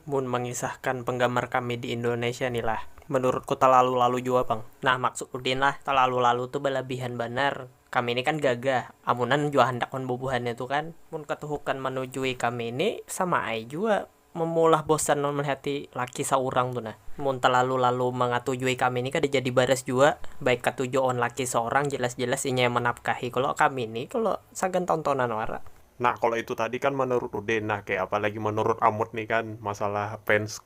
Mun mangisahkan penggamar kami di Indonesia ni lah, menurutku talalu-lalu jua pang. Nah maksud Udin lah, talalu-lalu tu balabihan banar. Kami ni kan gagah, amunan jua handak wan bubuhannya tu kan. Mun katuhukan manujui kami ni sama ai jua memulah bosan wan melihati laki saurang tu nah. Mun talalu-lalu mangatujui kami ni kada jadi baras jua, baik katuju awan laki saurang jelas-jelas inya yang manapkahi kalo, kami ni kalo sagan tontonan wara. Nah kalo itu tadi kan menurut udin, nah kaya apa lagi menurut amut nih kan masalah fans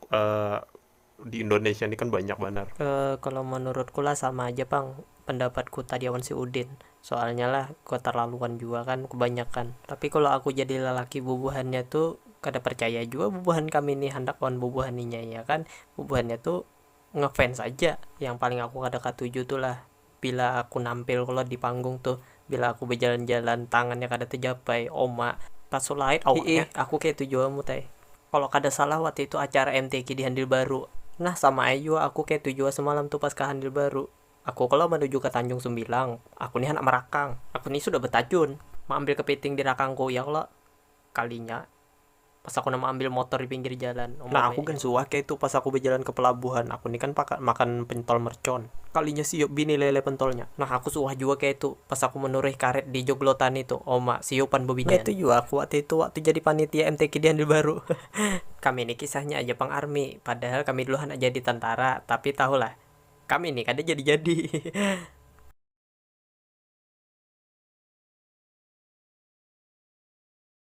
di indonesia nih kan banyak banar. Kalo menurutku lah sama aja pang pendapatku tadi awan si udin, soalnya lah keterlaluan jua kan kebanyakan, tapi kalo aku jadi lelaki bubuhannya tu kada percaya jua bubuhan kami nih handak lawan bubuhan inya iya kan, bubuhannya tu ngefans aja yang paling aku kada katuju tu lah Bila aku nampil kolot di panggung tuh, bila aku bejalan-jalan tangannya kada tejapai, oma, tasulait awaknya. Hiih, aku keitu jua mut ai. Kalo kada salah waktu itu acara MTQ di Handil Baru. Nah, sama ai jua aku keitu jua semalam tuh pas ka Handil Baru. Aku kalo manuju ka Tanjung Sumbilang, aku nih handak merakang. Aku nih sudah betajun. Maambil kepiting di rakangku, ya kalo? Kalinya. Pas aku nah maambil motor di pinggir jalan. Umur Nah aku gin suah keitu pas aku bejalan ke pelabuhan, aku ni kan pakan makan pentol mercon. Kalinya siup bini lele pentolnya. Nah aku suah jua keitu pas aku menuruih karet di joglotani tu, oma, siup pan bobijan. Nah itu jua aku waktu itu, waktu jadi panitia MTQ di Handil Baru. Kami ni kisahnya aja pang army, padahal kami dulu handak jadi tentara, tapi tahu lah. Kami ni kada jadi jadi.